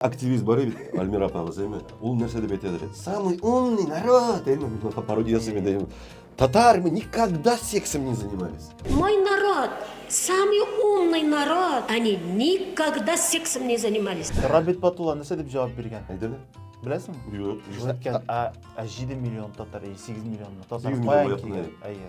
активист бар бит альмира апабыз эми ул нәрсә деп әйтәдер самый умный народ эми пародия ясыйм инде эми татар мы никогда сексом не занимались мой народ самый умный народ они никогда сексом не занимались рабит батулла нәрсә деп җавап биргән әйдәле беләсеңме юк әйткән ә җиде миллион татар или сигез миллион татар каян килгән әйе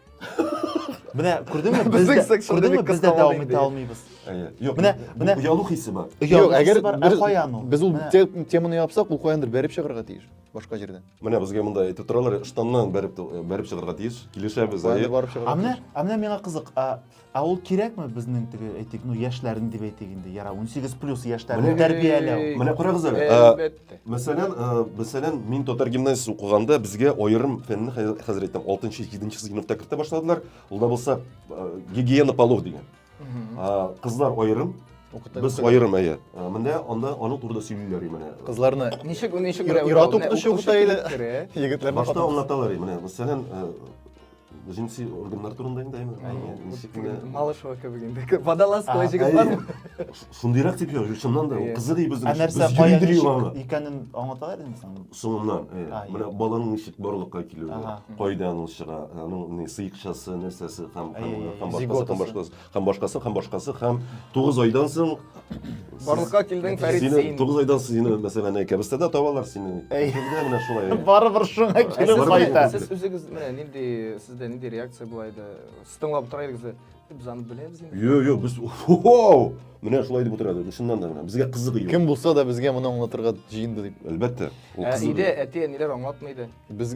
Менә күрдеңме? Без дә күрдеңме? Без дә дәвам итә алмыйбыз. Юк, менә менә оялу хисе бар. Юк, әгәр бер каян ул? Без ул теманы япсак, ул каяндыр бәреп чыгарга тиеш. Башка җирдән. Менә безгә монда әйтеп торалар, штаннан бәреп бәреп чыгарга тиеш. Килешәбез, әйе. А менә, а менә миңа кызык, Ә ул кирәкме безнең теге әйтик, ну яшьләрнең дип әйтик инде, яра 18 плюс яшьләрне тәрбияләү. Менә карагыз әле. Әлбәттә. Мәсәлән, мәсәлән, мин татар гимназиясе укыганда безгә аерым фәнне хәзер әйтәм, 6-7 сыйныфта кертә башладылар. Ул да булса гигиена полов дигән. Кызлар аерым, Без аерым әйе. Менә анда аның турында сөйлиләр менә. Кызларны ничек ничек ират укытучы укыта или егетләрне башта аңлаталар менә. Мәсәлән, җенси органнар турында инде әңгәмә малышева кебек инде водолазкалы җегет бармы шундыйрак дип язып чыннан да кызы ди безнең нәрсә кая икәнен аңлата идең соң соңыннан менә баланың ничек барлыкка килүе кайдан ул чыга аның сыекчасы нәрсәсе һәм башкасы Һәм башкасы, һәм башкасы, һәм тугыз айдан соң... Барлыкка килдең, Фәрит, син. Сине тугыз айдан соң сине, мәсәлән, әнә кәбестәдә табалар сине. Әй. Килдә менә шулай. Барыбер шуңа килеп Сез- кайта. Сез үзегез менә нинди сездә нинди реакция була иде? Сез тыңлап тора идегез дә, Без аны беләбез инде. Йо, йо, без хо-хо! Менә шулай дип утыра идек, чыннан да менә. Безгә кызык иде. Кем булса да безгә моны аңлатырга җыенды дип. Әлбәттә. Ул Ә кызык. өйдә әти-әниләр аңлатмый иде. Без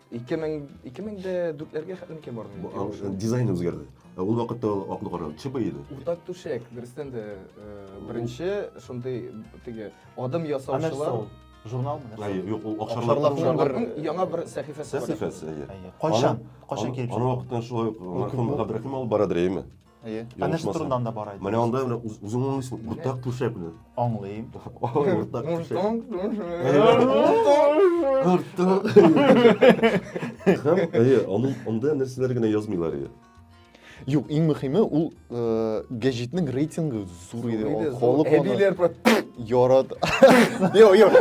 Ике мең, ике мең дә дүртләргә хәтле микән бардым? Бу, а, э, Дизайны үзгәрде. Ә Ул вакытта ул аклы кара ЧБ иде. Уртак түшәк, дөрестән дә э, беренче шундый теге адым Ә нәрсә ясаучылар. ул? Журналмы? нәрсә? Әйе, юк, ул Акшарлар Акшарлар клубы. клубы. Шарларның яңа бер сәхифәсе бар. Сәхифәсе, әйе. Әйе. Кайчан? Кайчан Аны- килеп Аны җитте? вакыттан шулай ук мәрхүм Габдрахим алып барадыр, әйеме? Әйе. Ә нәрсә турында анда бара иде? Менә анда менә үзең аңлыйсың, уртак түшәк белән. Аңлыйм. Уртак түшәк. Уртак. Һәм әйе, аның анда нәрсәләр генә язмыйлар иде. Юк, иң мөхиме ул гәҗитнең рейтингы зур иде. Халык әбиләр ярат. Юк, юк.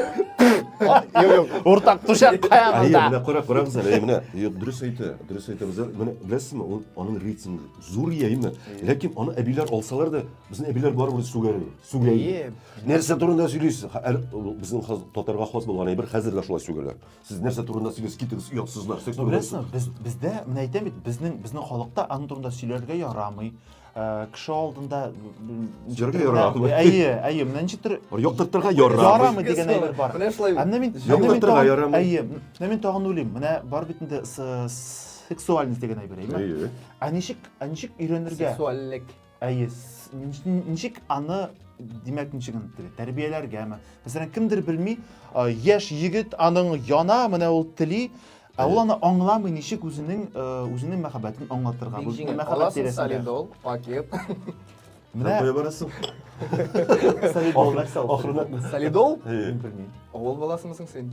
Юк, юк. Уртак түшәк каямында. Әйе, менә карак, карагыз әле, менә. Юк, дөрес әйтә, дөрес әйтә. Менә беләсезме, ул аның рейтингы. Зур ия именно. Ләкин аны әбиләр алсалар да, безнең әбиләр барыбер сүгәр. Сүгәй. Нәрсә турында сөйлисез? Безнең хаз татарга хас булган әйбер хәзер дә шулай сүгәләр. Сез нәрсә турында сөйлисез? Китегез, оятсызлар. Беләсезме, без бездә менә әйтәм бит, безнең безнең халыкта аның турында сөйләргә ярамый. Э, кеше алдында Җөргә ярамый. Әйе, әйе, менә ничек төр. Яктыртырга ярамый. Ярамый дигән әйбер бар. Менә шулай. Әмма мин яктыртырга ярамый. Әйе. Менә мин тагын уйлыйм. Менә бар бит инде сексуальность дигән әйбер әйме әйе ә ничек ә ничек өйрәнергә сексуальлек әйе ничек аны димәк ничек тәрбияләргәме мәсәлән кемдер белми яшь егет аның яна менә ул тели Ә ул аны аңламый ничек үзенең э, үзенең мәхәббәтен аңлатырга, үзенең мәхәббәт тирәсендә. Солидол, пакет. Менә кая барасың? Солидол нәрсә ул? Солидол? Мин белмим. Авыл баласымы соң син?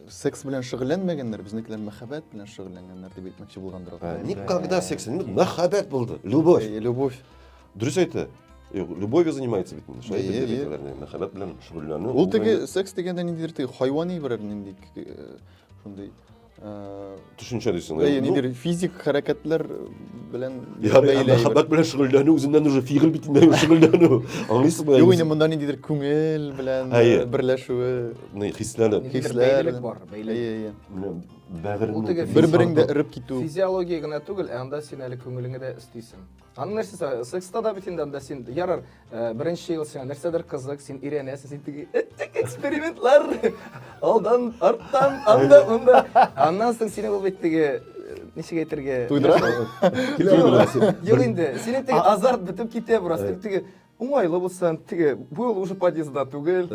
Секс белән шөгыльләнмәгәннәр, безнекеләр мәхәббәт белән шөгыльләнгәннәр дип әйтмәкче булгандыр алар. Ә, Никогда секс, инде мәхәббәт булды, любовь. Э, Любовь. Дөрес әйтә. Э, Любовью занимается бит инде. Шулай Әйе, дип әйе. әйтәләр, инде, мәхәббәт белән шөгыльләнү. Ул теге секс дигәндә ниндидер теге хайвани берәр нинди э, шундый э, Төшенчә дисең. Бәй, ну, нидер физик хәрәкәтләр белән Я, бәйле әйбер. мәхәббәт белән шөгыльләнү үзеннән уже фигыль битендә шөгыльләнү. Аңлыйсызмы? Юк, инде монда ниндидер күңел белән Әйе. э, берләшүе. Ни, хисләнеп. Нидер Хисләр. бәйлелек бар, бәйлелек. Әйе, әйе. Менә Бәгыреңне. Ул теге бер- Бер-береңдә эреп китү. Физиология генә түгел, ә анда син әле күңелеңе дә өстисең. Аны нәрсә сә- секста да бит инде анда син ярар, э, беренче ел сиңа нәрсәдер кызык, син өйрәнәсең, син теге эттек экспериментлар. Алдан, арттан, анда, монда. Аннан соң сине ул бит теге э, ничек әйтергә? Туйдыра? Килә Юк, аласың. Юк инде. Синең теге азарт бетеп китә бераз. Теге Уңайлы булсын. Теге был уже подъездда түгел.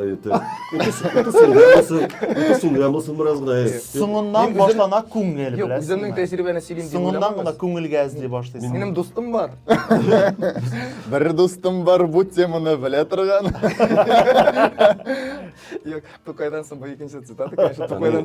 Сүнгән булсын бераз гына. Соңыннан башлана күңел, Юк, үземнең тәҗрибәне сөйлим дип Соңыннан гына күңелгә эзли башлыйсың. Минем дустым бар. Бер дустым бар бу теманы белә торган. Юк, Тукайдан соң бу икенче цитата, конечно, Тукайдан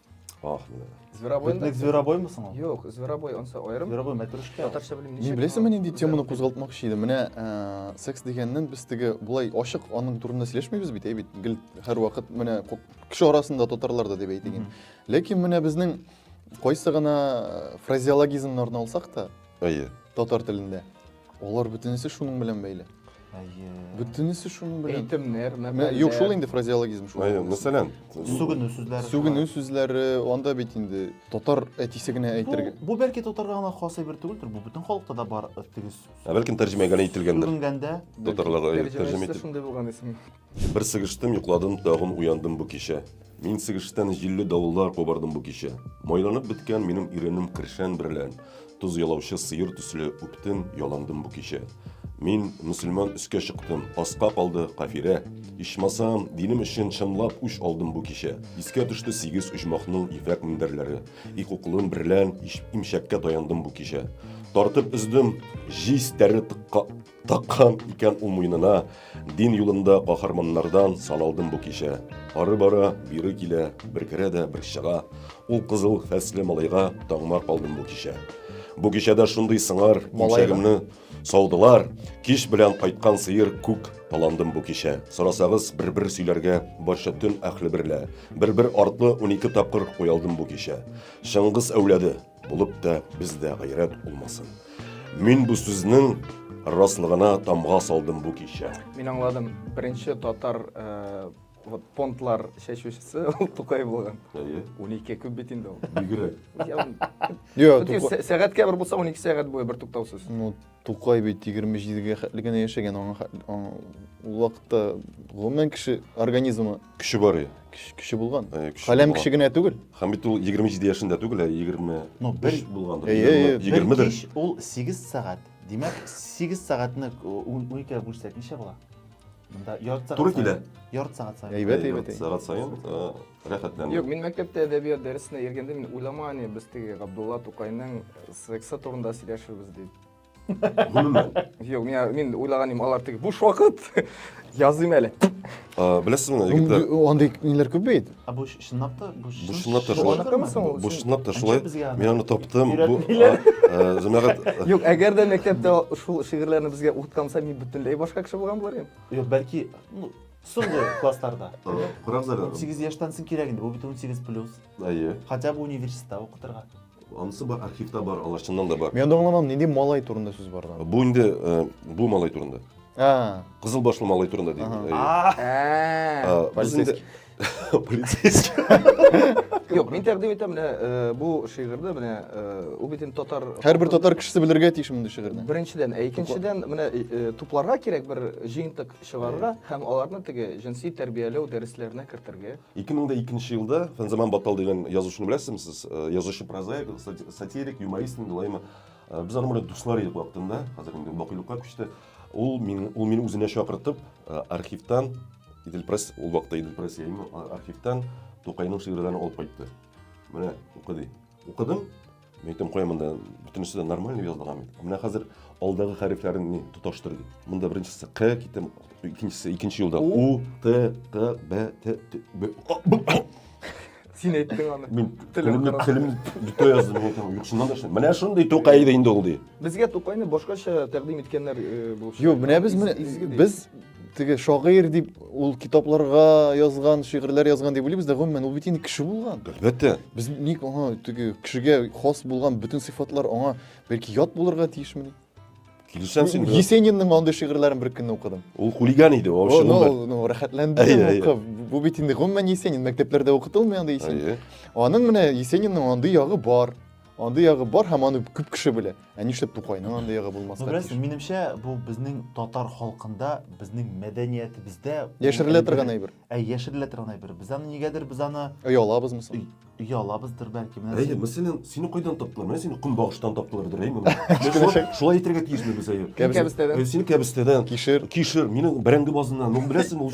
Ах, менә. Зверобой. Бөтнек зверобоймысың ул? Юк, зверобой онсы аерым. Зверобой мәтрүшкә. Татарча белмим ничек. Мин беләсеңме нинди теманы кузгалтмакчы идем? Менә э, секс дигәннән без теге булай ачык аның турында сөйләшмибез бит, әй бит. Гел һәр вакыт менә кеше арасында татарларда дип әйтегез. Ләкин менә безнең кайсы гына фразеологизмнарны алсак та, Әйе. Татар телендә. Алар бөтенесе шуның белән бәйле. Әйе. Бөтенесе шуның белән. Әйтемнәр, мәкальләр. Юк, шул инде фразеологизм шул. Әйе, мәсәлән. Сүгенү сүзләре. Сүгенү сүзләре, анда бит инде татар әтисе генә әйтергә. Бу бәлки татарга гына хас әйбер түгелдер, бу бөтен халыкта да бар тигез. Ә бәлки тәрҗемә генә ителгәндер. Сүгенгәндә. Татарларга әйе, тәрҗемә ителгән. Шундый булган исем. Бер сыгыштым, йокладым, тагын уяндым бу кичә. Мин сыгыштан җилле давыллар кубардым бу кичә. Майланып беткән минем иренем кершән берлән, тоз ялаучы сыер төсле үптем, яландым бу кичә. Мин мөселман өскә чыктым, аска калды кафирә. Ичмасам, динем өчен чынлап үч алдым бу кичә. Искә төште сигез оҗмахның ефәк мендәрләре. Ик уклым берлән имчәккә таяндым бу кичә. Тартып өздем, җиз тәре тыкка Таккан икән ул муенына, дин юлында каһарманнардан саналдым бу кичә. Ары бара, бире килә, бер керә дә, бер чыга. Ул кызыл фәсле малайга таңмар калдым бу кичә. Бу кичәдә шундый сыңар имчәгемне саудылар. Кич белән кайткан сыер күк таландым бу кичә. Сорасагыз, бер-бер сөйләргә барча төн әхле берлә. Бер-бер артлы унике тапкыр куялдым бу кичә. Чыңгыз әүләде, Булып та бездә гайрәт булмасын. Мин бу сүзнең раслыгына тамга салдым бу кичә. Мин аңладым. Беренче татар э, вот понтлар чәчүчесе ул Тукай булган. Әйе. 12 күп бит инде ул. Бигрәк. Я- Йо, Тукай- Сәгатькә бер булса 12 сәгать буе бер туктаусыз. Ну, Тукай бит 27 гә хәтле генә яшәгән, аңа ул вакытта гомумән кеше организмы көче бар иде. Кеше булган. Э, Каләм кеше генә түгел. Һәм бит ул 27 яшендә түгел, ә 20 ну, бер булган. 20 дә. Ул 8 сәгать. Димәк, 8 сәгатьне 12-гә бүлсәк ничә була? Монда ярты сәгать. Туры килә. Ярты сәгать саен. Әйбәт, әйбәт. Сәгать саен. Рәхәтләнде. Юк, мин мәктәптә әдәбият дәресенә йөргәндә мин уйлама, не без теге Габдулла Тукайның сексы турында сөйләшербез дип. Гомумән. Юк, мин мин уйлаган идем, алар теге буш вакыт языйм әле. А, Беләсезме, егетләр, Андый ниләр күп бит. Ә бу чынлап та бу Бу чынлап та Бу шулай. аныкымы соң ул? бу чынлап та шулай. Әнҗә безгә аны Мин аны таптым. Бу өйрәтмиләр. а, э, җәмәгать Юк, әгәр дә мәктәптә шул шигырьләрне безгә укытканса, мин бөтенләй башка кеше булган булар идем. Юк, бәлки, ну, Соңгы классларда. Курак заряды. 18 яшьтән соң кирәк инде, бу бит 18 плюс. Әйе. Хотя бы университетта укытырга. Анысы бар, архивта бар, алар чыннан да бар. Мин аңламам, нинди малай турында сүз бар анда? Бу инде э, бу малай турында. А. Кызыл башлы малай турында дим. Ага. Әйе. Ә, А, без инде- Полицейский. Юк, мин тәкъдим итәм менә э, бу шигырьдә менә э, ул бит инде татар Һәрбер татар кешесе белергә тиеш мондый шигырьне. Беренчедән, ә икенчедән менә э, тупларга кирәк бер җыентык чыгарырга һәм аларны теге җенси тәрбияләү дәресләренә кертергә. 2002 елда Фәнзаман Батал дигән язучыны беләсезме сез? Э, язучы прозаик, сатирик, юморист инде лайма. Э, без аның белән дуслар идек вакытында, хәзер инде бакыйлыкка күчте. Ул мин ул мине үзенә чакыртып, э, архивтан Идел Пресс, ул вакытта Идел Пресс архивтан Тукайның шигырьләрен алып кайтты. Менә укыды. Укыдым, Мин әйтәм, кая монда бөтенесе дә нормально язылган бит. Менә хәзер алдагы хәрефләрен ни тоташтыр ди. Монда беренчесе К китем, икенчесе икенче юлда У, Т, Т, Б, Т, Т, Б. Син әйттең аны. Мин телемне телем битә яздым, мин әйтәм, юк шуннан да шуннан. Менә шундый тукай иде инде ул ди. Безгә тукайны башкача тәкъдим иткәннәр булып. Юк, менә без без теге шагыйрь дип ул китапларга язган шигырьләр язган дип уйлыйбыз да гомумән ул бит инде кеше булган әлбәттә без ник аңа теге кешегә хас булган бөтен сыйфатлар аңа бәлки ят булырга тиешмени килешәм син есенинның андый шигырьләрен бер көнне укыдым ул хулиган иде вообще ну рәхәтләндем укып бу бит инде гомумән есенин мәктәпләрдә укытылмый андый есенин аның менә есенинның андый ягы бар Андый ягы бар һәм аны күп кеше белә. Ә нишләп Тукайның андый ягы булмаска? Ну, беләсең, минемчә, бу безнең татар халкында, безнең мәдәниятебездә яшерелә торган әйбер. Ә яшерелә торган әйбер. Без аны нигәдер без аны оялабыз мисал. Оялабыздыр бәлки. Менә әйе, мәсәлән, сине кайдан таптылар? Менә сине көнбагыштан таптылардыр, әйе моны. Шулай әйтергә тиешме без әйе? Кәбестәдән. Сине кәбестәдән. Кишер. Кишер, мине бәрәңге базыннан. Ну, беләсең, ул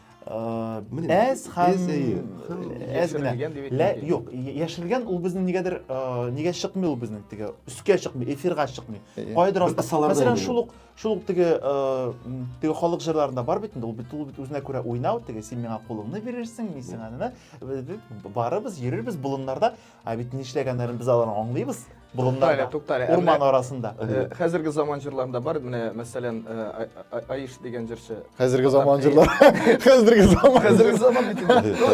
әз һәм әз генә лә юк яшерелгән ул безнең нигәдер нигә чыкмый ул безнең теге өскә чыкмый эфирга чыкмый кайдыр мәсәлән шул ук шул ук теге теге халык җырларында бар бит инде ул бит ул бит үзенә күрә уйнау теге син миңа кулыңны бирерсең мин сиңа барыбыз йөрербез болыннарда Ә бит нишләгәннәрен без аларны аңлыйбыз. Буруннарда, туктале, урман арасында. Э, хәзерге заман җырларында бар, менә мәсәлән, э, Аиш дигән җырчы. Хәзерге заман җырлар. Хәзерге заман. Хәзерге заман бит.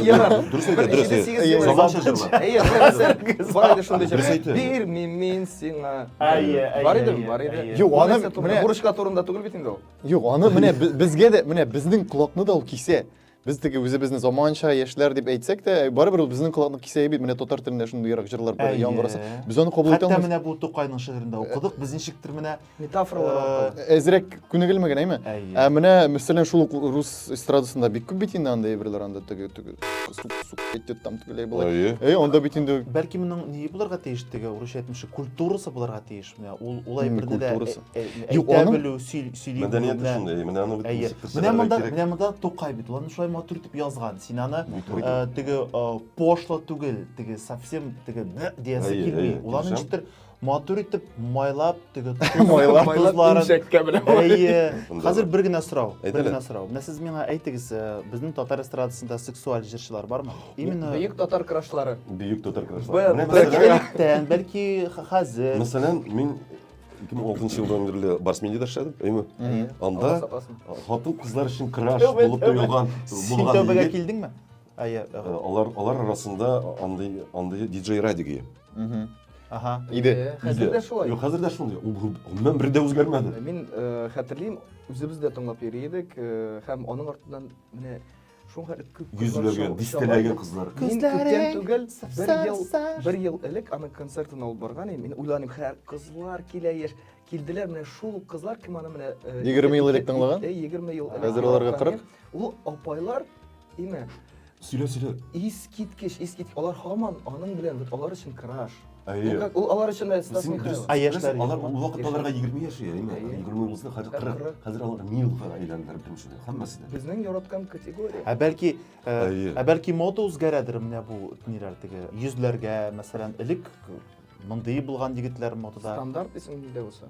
Ярар. Дөрес әйтә, дөрес әйтә. Заманча җырлар. Әйе, хәзер бар иде шундый җыр. Бирмим мин сиңа. Әйе, әйе. Бар иде, бар иде. Юк, аны менә бурычка турында түгел бит инде ул. Юк, аны менә безгә дә, менә безнең колакны да ул кисә. Без теге үзебезне заманча яшьләр дип әйтсәк тә, барыбер ул безнең колакны кисәе бит. Менә татар телендә шундый ерак җырлар бар, яңгыраса. Без аны кабул итә Хәтта менә бу Тукайның шигырендә укыдык, без ничектер менә метафоралар аркылы. Әзрәк күнегелмәгән, әйме? Ә менә мәсәлән шул ук рус эстрадасында бик күп бит инде анда әйберләр анда теге теге идет там тегеләй болай. Әй, анда бит инде. Бәлки моның ни булырга тиеш теге урысча әйтмешли, культурасы булырга тиеш. Ул улай бер дә әйтә белү, сөйли белү. Мәдәнияте шундый, менә аны бит ничек күрсәтергә кирәк. Менә монда, менә монда Тукай бит, ул шулай матур итеп язган. Син аны теге пошло түгел, теге совсем теге диясе килми. Ул аны ничектер матур итеп майлап теге майлап тузларын инжәккә белән әйе хәзер бер генә сорау бер генә сорау менә сез миңа әйтегез безнең татар эстрадасында сексуаль җырчылар бармы Именно Бөек татар крашлары. Бөек татар крашлары. Бәлки электән, бәлки хәзер. Мәсәлән, мин 2006 елдан бирле Барсмендида эшләдем, әйме? Анда хатын кызлар өчен краш булып тоелган Син тәүбәгә килдеңме? Әйе. Э, алар алар арасында андый андый диджей Радиги. Ага. Иде. Э, хәзер дә шулай. Юк, хәзер дә шулай. Ул гомумән бер дә үзгәрмәде. Мин э, хәтерлим, үзебез дә тыңлап йөри идек һәм аның артыннан менә Шуңа күп кызлар Йөзләгән, шау- шау- дистәләгән кызлар. Мин күптән Күзләрең түгел, бер сар- ел, сар. бер ел элек аның концертын алып барган идем. Мин уйланым, хәр кызлар килә яшь. Килделәр менә шул ук кызлар, кем аны менә... э, 20 ел элек ике- тыңлаган? э, 20 ел элек. Хәзер аларга тыңлаган 40? идем. Ул апайлар, имә, Сөйлә, сөйлә. искиткеч, искиткеч. Алар һаман аның белән, вот алар өчен краш. Әйе. Ну, ул алар өчен дә Стас Син Михайлов. дөрес- Ә яшьләр дөрес, Алар ул вакытта аларга 20 яшь иде, әйме? Әйе. 20 булса, хәзер 40. Кырык. Хәзер алар милфа әйләнделәр бөтенесе дә, һәммәсе дә. Безнең яраткан категория. Ә бәлки э, Әйе. ә бәлки мода үзгәрәдер менә бу ниләр теге йөзләргә мәсәлән элек мондый булган егетләр модада Стандарт исем нидә булса.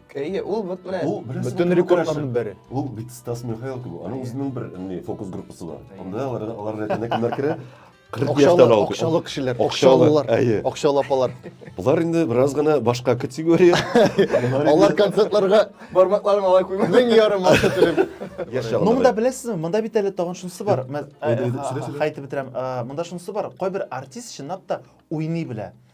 Әйе, ул вот менә. Ул беренче Бөтен рекордларның бере. Ул бит Стас Михайлов кебек. Аның үзенең бер не фокус группасы бар. Анда алар алар рәтенә кемнәр керә? 40 яшьтән алып. Акчалы кешеләр, акчалылар, акчалы апалар. Болар инде бераз гына башка категория. Алар концертларга бармакларын алай куймый. Мең ярым акча төләп. Яшәгән. Ну монда беләсезме, монда бит әле тагын шунысы бар. Хайтып бетерәм. Монда шунысы бар. Кайбер артист чынлап та уйный белә.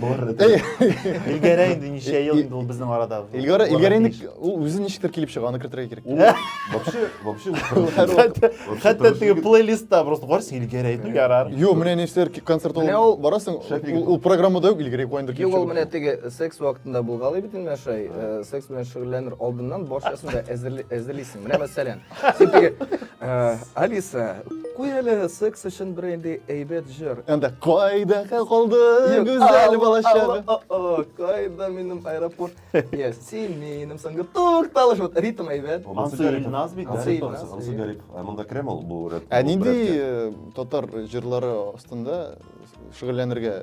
Илгәрә инде ничә ел инде ул безнең арада. Илгәрә Илгәрә инде ул үзе ничектер килеп чыга, аны кертергә кирәк. Вообще, вообще хәтта теге плейлистта просто карс Илгәрә инде ярар. Юк, менә нәрсәләр концерт ул барасың, ул программада юк Илгәрә куандыр килеп чыга. Юк, ул менә теге секс вакытында булгалый бит инде шай, э, секс белән шөгыльләнер алдыннан барчасын да әзерлисең. Менә мәсәлән, Син теге э, Алиса, куй әле секс өчен бер инде әйбәт җыр. Анда кайда калды гүзәл балачагы. Кайда минем аэропорт? Я син минем соңгы тукталыш. Вот ритм әйбәт. Ансы Илназ бит. Ансы Гарип. Монда керәм ул бу рәт. Ә нинди э, татар җырлары астында шөгыльләнергә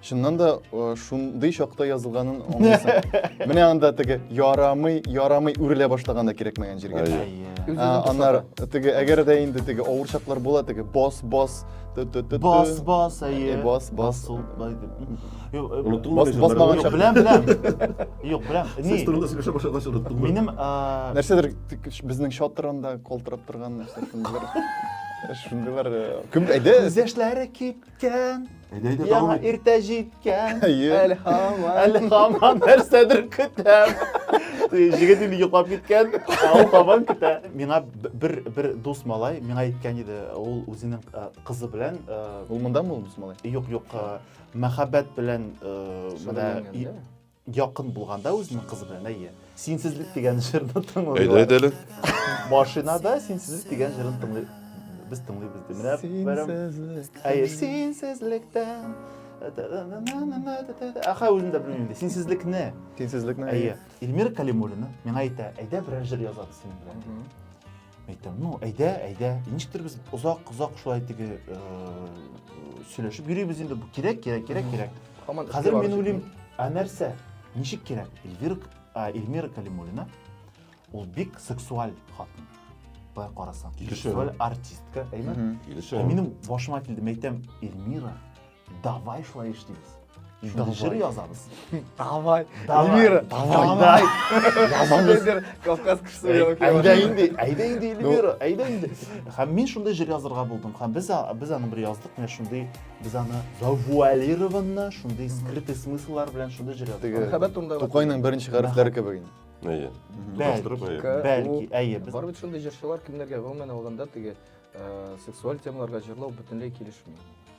Чыннан да шундый чакта язылганын аңлыйсың. Менә анда теге ярамый, ярамый үрелә башлаганда кирәкмәгән җиргә. Аннар теге әгәр дә инде теге авыр чаклар була теге бос бос бос бос әйе. Бос бос. Бос бос баган чак. Беләм, беләм. Юк, беләм. Ни? Сез турында сөйләшә башлагач оныттым. Минем нәрсәдер безнең чатырында колтырап торган нәрсә шундыйлар. Шундыйлар. Кем әйдә? Күз яшьләре кип Киткән. Әйдә, әйдә, Яңа дәвам ит. иртә җиткән. Йөр. Әле һаман. Әле һаман нәрсәдер көтәм. Җегет инде йоклап киткән, ә ул һаман көтә. Миңа б- бер бер дус малай миңа әйткән иде, ул үзенең э, кызы белән э, Ул монда мулмус малай. юк юк э, мәхәббәт белән э, менә Шөгыльләнгән, и- да? Якын булганда үзенең кызы белән, әйе. Синсезлек дигән җырны тыңлый. Әйдә, әйдә әле. Машинада синсезлек дигән җырын тыңлый. Без тыңлыйбыз ди. Менә синсезлек. Әйе, синсезлектән. Аха, үзем дә белмим ди. Синсезлекне. Синсезлекне. Әйе. Эльмира Калимуллина миңа әйтә, әйдә берәр җыр язабыз синең белән. әйтәм ну әйдә әйдә ничектер без озак озак шулай теге э, сөйләшеп йөрибез инде кирәк кирәк кирәк кирәк хәзер мин уйлыйм ә нәрсә ничек кирәк эльвира эльмира калимуллина ул бик сексуаль хатын былай карасаң сексуаль артистка әйме килешә ә минем башыма килде мәйтәм эльмира давай шулай эш дейміз шуны жыр язамыз давай эльвира давай язамыз кавказ кісі әйдә енді әйдә енді эльвира әйдә енді һәм мен шундай жыр язырга булдым һәм без без аны бер яздык менә шундый без аны завуалированно шундый скрытый смысллар белән шундый жыр яздык мәхәббәт турында тукайның беренче хәрефләре кебек инде әйе бәлки бәлки әйе без барыбер шундый җырчылар кемнәргә гомумән алганда теге сексуаль темаларга җырлау бөтенләй килешми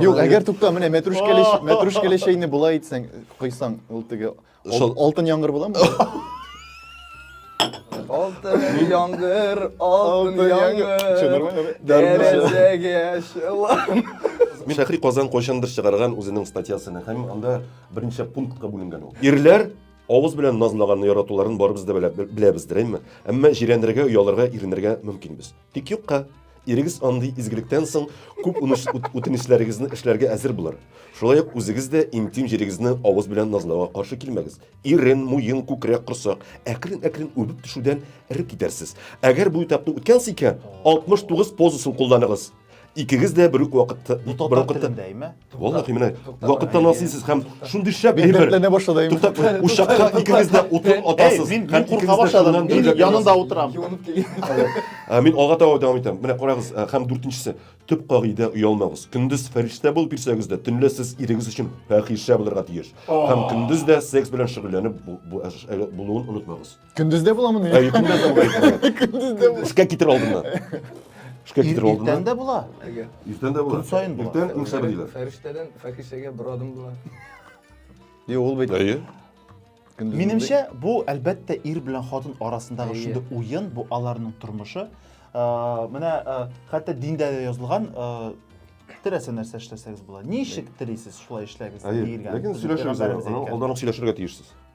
Юк, әгәр тукта, менә мәтрүшкәле, мәтрүшкәле чәйне болай итсәң, койсаң, ул теге алтын яңгыр буламы? Алтын яңгыр, алтын яңгыр. Дәрәҗәгә шылам. Шәхри Казан кайчандыр чыгарган үзенең статьясын һәм анда берничә пунктка бүленгән ул. Ирләр авыз белән назлаганны яратуларын барыбыз да беләбездер, әмма җирәнергә, оялырга, иренергә мөмкинбез. Тик юкка, ирегез андый изгелектән соң күп үтенечләрегезне эшләргә әзер булыр. Шулай ук үзегез дә интим җирегезне авыз белән назлауга каршы килмәгез. Ирен, муен, күкрәк, корсак, әкрен-әкрен үбеп төшүдән эреп китәрсез. Әгәр бу этапны үткәнсез икән, 69 позасын кулланыгыз. Икегез дә бер үк вакытта, бер вакытта Валлахи менә вакытта насыйсыз һәм шундый шәп әйбер. Дәртләнә башлады. Туктап, учакка икегез дә утын атасыз. Мин бик курка башладым. Мин янында утырам. Ә мин алга таба дәвам итәм. Менә карагыз, һәм дүртенчесе, төп кагыйдә оялмагыз. Көндез фәрештә булып йөрсәгез дә, төнлә сез ирегез өчен фәхишә булырга тиеш. Һәм көндез дә секс белән шөгыльләнеп булуын онытмагыз. Көндіз де бола міне? Ә, Көндіз де бола. Күндіз де бола. Ішке кетер алдына. Ішке кетер алдына. Иртен де бола. Иртен де бола. Күн сайын бола. Иртен күн сайын бола. Фәриштәдән фәхишәгә бер адым була. Е, ул бит. Әйе. Минемчә, бу әлбәттә ир белән хатын арасындагы шундый уен, бу аларның тормышы. Менә хәтта диндә дә язылган теләсә нәрсә эшләсәгез була. Ничек телисез, шулай эшләгез диелгән. Ләкин сөйләшегез, алдан ук сөйләшергә тиешсез.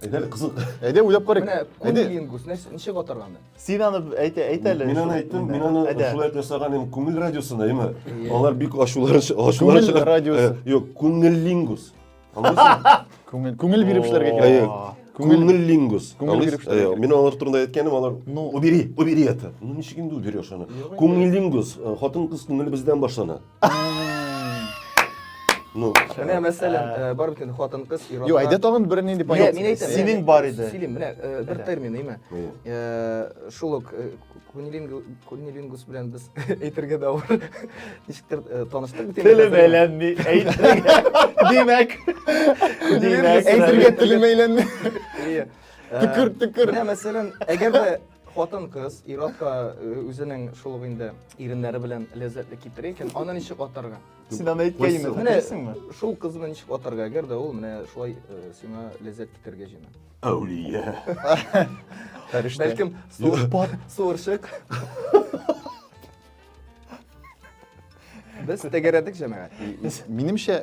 Әйдә әле кызык. Әйдә уйлап карыйк. Менә күн Әйдә. диенгус нәрсә ничек атарга аны? Син аны әйт, әйт әле. Мин аны әйттем, мин аны Әйдә. шулай итеп ясаган идем күңел радиосына, әйме? Алар бик ачулар ачулар Күңел радиосы. Э, Юк, күңел лингус. Аңлыйсыңмы? Күңел, күңел биреп эшләргә Әйе. кирәк. Күңел- Күңел лингус. Күңел Аңлыйсыз? биреп эшләргә Әйе, кирәк. Мин алар турында әйткәнем, алар Ну. убери, убери это. Ну ничек инде уберешь аны? Күңел лингус. Хатын-кыз күңеле бездән башлана. Ну, Менә мәсәлән, э, бар бит инде хатын-кыз ирада. Юк, әйдә тагын бер нинди понятие. Мин әйтәм. Синең бар иде. Сөйлим, менә э, бер термин, әйме. Э, шул ук кунилингус белән без әйтергә дә авыр. Ничектер таныштык бит. Телем әйләнми, әйтергә. Димәк. Димәк, әйтергә телем әйләнми. Төкер, төкер. Менә мәсәлән, әгәр дә Хатын кыз ир-атка үзенең шул ук инде иреннәре белән ләззәтле китерә икән, аны ничек атарга? Син аны әйткәйме? Менә шул кызны ничек атарга? Әгәр дә ул менә шулай сиңа ләззәт китергә җыена. Әүлия. Фәрештә. Бәлкем суырпат, суырчык. Без тәгәрәдек җәмәгать. Минемчә,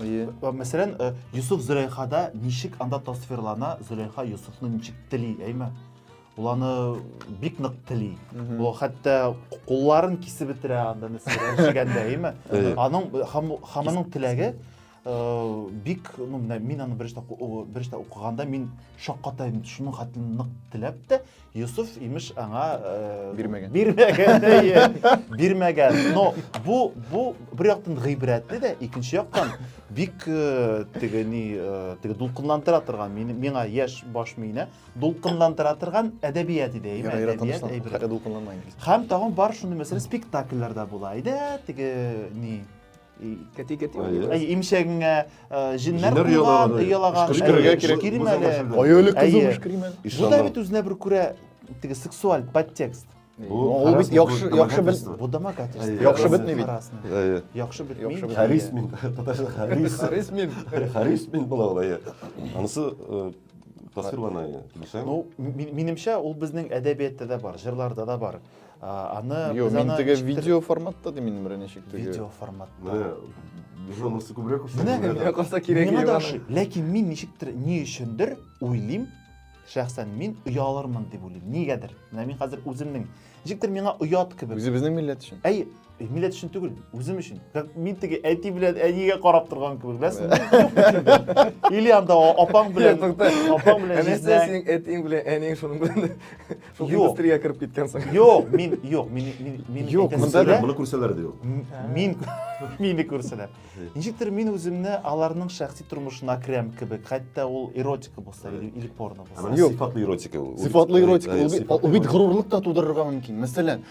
Әйе. Э, мәсәлән, э, Юсуф Зөләйхада ничек анда тасвирлана, Зөләйха Юсуфны ничек тели, әйме? Ул аны бик нык тели. Ул хәтта кулларын кисеп бетерә анда нәрсәләр җигәндә, әйме? Аның һәм аның теләге э, бик, ну, мин аны беренче беренче укыганда мин шаккатайдым. Шуның хәтле нык теләп тә, Юсуф, имеш, аңа э, бирмәгән. Бирмәгән, әйе. Бирмәгән. Но бу бу бер яктан гыйбрәтле дә, икенче яктан бик э, теге ни, э, теге дулкынландыра торган, миңа яшь баш миенә дулкынландыра торган әдәбият иде, әйе, әдәбият әйбер. Хәтта дулкынланмай. Һәм тагын бар шундый мәсьәлә спектакльләрдә була иде, теге ни, Кәти кәти. Әй, имчәгеңә җиннәр куйган, ялаган. Кычкырырга кирәк. Кирим әле. Аюлы кызы кычкырым әле. Бу да бит үзенә бер күрә теге сексуаль подтекст. Ул бит яхшы яхшы бит. Бу домогательство. Яхшы бит бит. Әйе. Яхшы бит. Яхшы бит. Харис мин. Татарча Харис. Харис мин. Харис мин була ул әйе. Анысы тасвирлана әйе. Ну, минемчә ул безнең әдәбиятта да бар, җырларда да бар. аны Йо, мин теге видео форматта да мин бере ничек теге видео форматта жонасы күбрәк ошый менә калса кирәк миңа да ошый ләкин мин ничектер ни өчендер уйлыйм шәхсән мин оялырмын дип уйлыйм нигәдер менә мин хәзер үземнең ничектер миңа оят кебек үзебезнең милләт өчен әй Э, милләт өчен түгел, үзем өчен. Как мин теге әти белән әнигә карап торган кебек, беләсең? Или анда апаң белән, апаң белән җизнә. Синең әтиң белән әниң шуның белән шул индустрия кереп киткәнсең. Юк, мин юк, мин мин мин Юк, монда да моны күрсәләр дә юк. Мин мине күрсәләр. Ничектер мин үземне аларның шәхси тормышына керәм кебек, хәтта ул эротика булса или порно булса. Сыйфатлы эротика ул. Сыйфатлы эротика ул бит горурлык та тудырырга мөмкин. Мәсәлән,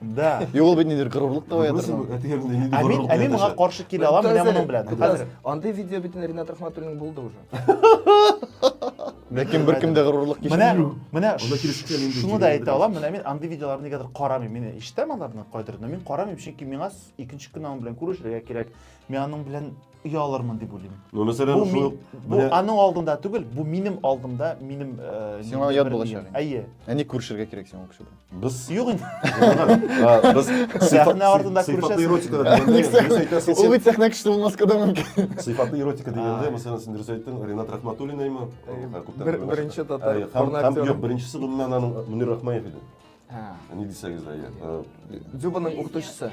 Да. И ул бит нидер горурлык та уятыр. Ә мин, ә мин моңа каршы килә алам, менә моның белән. Хәзер андый видео бит Ренат Рахматуллин булды уже. Ләкин бер кемдә горурлык кичә. Менә, менә шуны да әйтә алам, менә мин андый видеоларны нигәдер карамыйм. Мин ишетәм аларны кайдыр, но мин карамыйм, чөнки миңа икенче көн аның белән күрешергә кирәк. Мин аның белән оялырмын дип уйлыйм. Ну, мәсәлән, бу, шул, бу менә... аның алдында түгел, бу минем алдымда, минем э, Сиңа ят булачак. Әйе. Әни күрешергә кирәк сиңа кеше белән. Без юк инде. Без сәхнә артында күрешәсез. Сыйфатлы эротика дигәндә, ул бит сәхнә кеше булмаска да мөмкин. Сыйфатлы эротика дигәндә, мәсәлән, син дөрес әйттең, Ренат Рахматуллинаймы? Беренче татар порно актеры. Юк, беренчесе гомумән аның Мөнир Рахмаев иде. Ә. Ни дисәгез дә, иә. Дзюбаның укытучысы.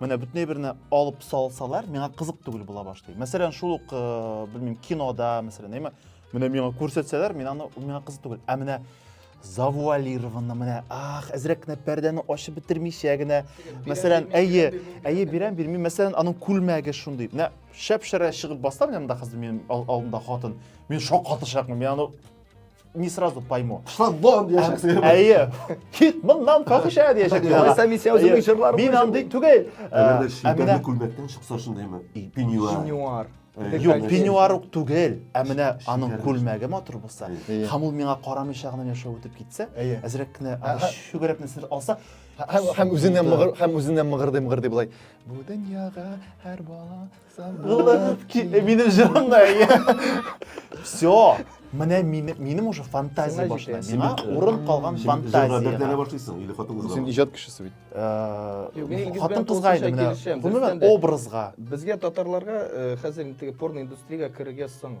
Менә бүтней берне алып салсалар, миңа кызык түгел була башлый. Мәсәлән, шул ук, э, белмим, кинода, мәсәлән, әйме, менә миңа күрсәтсәләр, мин аны миңа кызык түгел. Ә менә завуалированно менә ах әзрәк кенә пәрдәне ачып бетермичә генә мәсәлән әйе әйе бирәм бирми мәсәлән аның күлмәге шундый менә шәп шәрә чыгып бассам янында хәзер минем алдымда хатын мин шаккатышакмын мин аны не сразу пойму шлагбаум дияшек әйе кит мыннан фахиша дияшек алайса мин сиңа үземнең җырларым мин андый түгел әмәлдә шидәрле күлмәктән чыкса шундыймы пеньюар Юк, пеньюар ук түгел, ә менә аның күлмәге матур булса, һәм ул миңа карамыйча гына яшәп үтеп китсә, әзрәк кенә шөгерәп нәрсәләр алса, һәм үзеннән һәм үзеннән мыгырдый мыгырдый болай. Бу дөньяга һәр бала Минем җырымда. Все. Менә минем уже фантазия башлана. Миңа урын калган фантазия. Җырга башлыйсың или хатын кызга? Син иҗат кешесе бит. Хатын кызга иде менә. Гомумән образга. Безгә татарларга хәзер инде порно индустриягә керергә соң.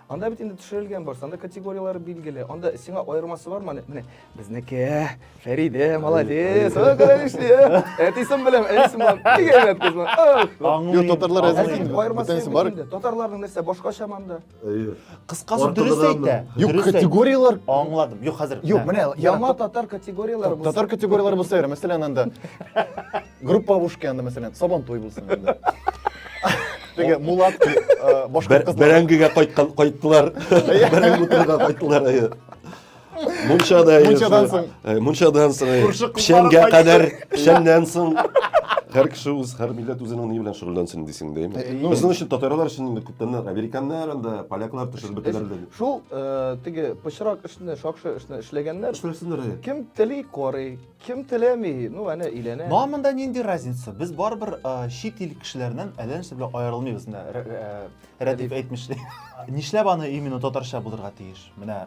Анда бит инде төшерелгән барсы, анда категорияләр билгеле. Анда сиңа аермасы бармы? Менә безнеке, Фәридә, молодец. Ой, карагыз, әтисен беләм, әнисен беләм. Бик әйбәт кыз. Юк, татарлар әзер. Бөтенесе бар. Татарларның нәрсә башкача монда? Кыскасы дөрес әйтә. Юк, категорияләр. Аңладым. Юк, хәзер. Юк, менә яңа татар категорияләре булса. Татар категорияләре булса, мәсәлән, анда группа бушка янында мәсәлән сабантуй булсын инде теге мулат башка кызлар бәрәңгегә кайткан кайттылар бәрәңге утырга кайттылар мунчада мунчадан соң мунчадан соң печәнгә кадәр печәннән соң һәр кеше үз һәр милләт үзенең ни белән шөгыльләнсен дисең дә безнең өчен татарлар өчен инде күптән американнар анда поляклар төшереп бетерделәр шул теге пычрак эшне шакшы эшне эшләгәннәр эшләсеннәр кем тели карый Кем теләми? Ну, әнә өйләнә. Ну, а монда нинди разница? Без барыбер э, чит ил кешеләреннән әллә нәрсә белән аерылмыйбыз. Менә Рә- Рә- Рәдиф әйтмешли. Нишләп аны именно татарча булырга тиеш? Менә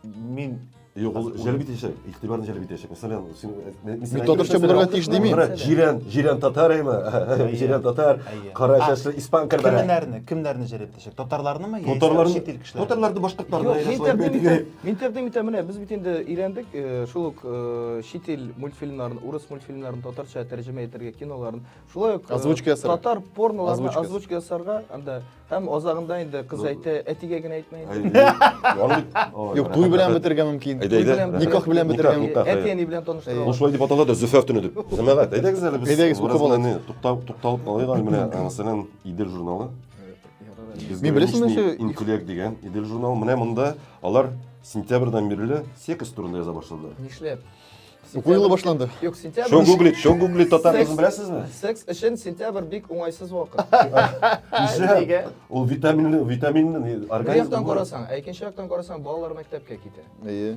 мин Юк, ул җәлеп итәчәк, игътибарны җәлеп итәчәк. Мәсәлән, син мен Мин татарча булырга тиеш дими. Җирән, җирән татар әйме? Җирән татар, кара чәчле испан кәрбәре. Кемнәрне, кемнәрне җәлеп Татарларны мы? Татарларны, чит ил кешеләре. Татарларны башкортларны Интердым итә менә без бит инде өйрәндек, э, шул ук э, чит ил мультфильмнарын, урыс мультфильмнарын татарча тәрҗемә итәргә киноларын. Шулай ук э, озвучка ясарга. Татар порноларны озвучка ясарга, анда һәм азагында инде кыз ну, әйтә, әтигә генә әйтмә инде. Юк, туй белән бетергә мөмкин. Никах белән бетергә мөмкин. Әти әни белән таныштыра. Ну шулай дип атала да Зөфәр төне дип. Җәмәгать, әйдәгез әле без. Әйдәгез, тукталып алыйк. Менә, мәсәлән, Идел журналы Мин беләсең нәрсә? Интеллект дигән Идел журналы. Менә монда алар сентябрьдән бирле секс турында яза башладылар. Нишләп? Уку елы башланды. Юк, сентябрь. Что гуглит, что гуглит татар кызын беләсезме? Секс өчен сентябрь бик уңайсыз вакыт. Нишләп? Ул витаминлы, витаминлы организм. Бер яктан карасаң, ә икенче яктан карасаң, балалар мәктәпкә китә. Әйе.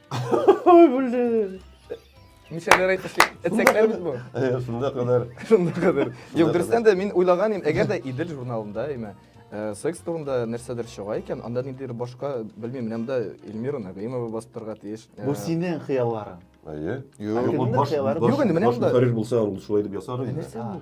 Мишәләр әйтмешли, эцәкләр бит бу. Э, Шунда кадәр. Шунда кадәр. Юк, дөрестән дә мин уйлаган идем, әгәр дә Идел журналында, имә, э, секс турында нәрсәдер чыга икән, анда ниндидер башка, белмим, менә монда Эльмира Нәгыймова бастырырга тиеш. Э, Бу синең хыялларың. Әйе. Юк, Юк, ул баш- хыяллары баш- Юк, инде менә баш монда. Бухареж булса, ул шулай дип ясар иде. нәрсә бу?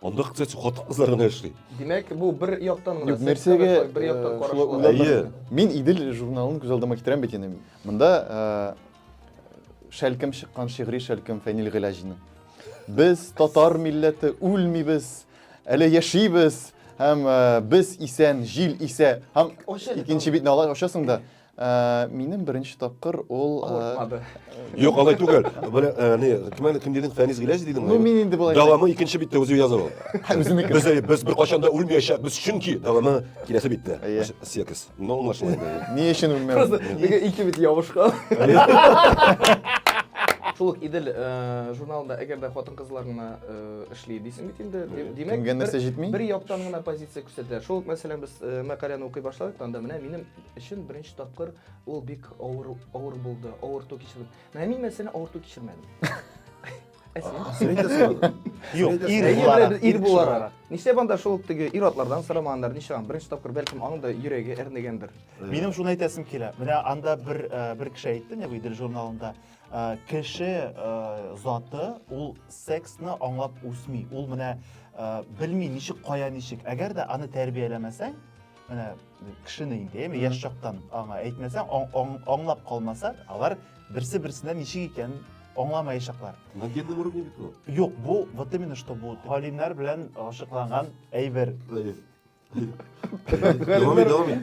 Анда, кстати, хатын кызлар гына эшли. Димәк, бу бер яктан гына. Юк, нәрсәгә бер яктан карашлы. Әйе. Мин Идел журналын күз алдыма китерәм бит инде. Монда шәлкем чыккан шигъри шәлкем Фәнил Гыйләҗинең. Без татар милләте үлмибез, әле яшибез һәм без исән, җил исә. Һәм икенче битне алай ачасың да Ә, минем беренче тапкыр ул... Ә, Авыртмады. Юк, алай түгел. Бер, ә, не, кем, кем дидең, Фәнис Гиләҗ дидең? Ну, мин инде болай... Дәвамы икенче биттә үзе язып ал. Үзенеке. Без, без бер качан да үлмәячәк, без чөнки дәвамы киләсе биттә. Секс. Ну, аңлашыла инде. Ни өчен үлмәү? Просто бигә ике бит ябышкан. Шул ук Идел э, журналында әгәр дә хатын-кызлар гына э, эшли дисең бит инде. Димәк, кемгә нәрсә җитми? Бер яктан гына позиция күрсәтә. Шул ук мәсәлән без э, мәкаләне укый башладык, анда менә минем өчен беренче тапкыр ул бик авыр авыр булды авырту кичердем менә мин мәсәлән авырту кичермәдем ә юк ир буларак ир буларак нишләп анда шул теге ир атлардан сорамаганнар ничеган беренче тапкыр бәлкем аның да йөрәге әрнегәндер минем шуны әйтәсем килә менә анда бер э, бер кеше әйтте не идел журналында э, кеше э, заты ул сексны аңлап үсми ул менә белми ничек кая ничек әгәр дә аны тәрбияләмәсәң менә кешене инде яме яшь чактан аңа әйтмәсәң аңлап калмаса алар берсе берсенә ничек икәнен аңламаячаклар на генном уровне бит ул юк бу вот именно что бу галимнәр белән ачыкланган әйбер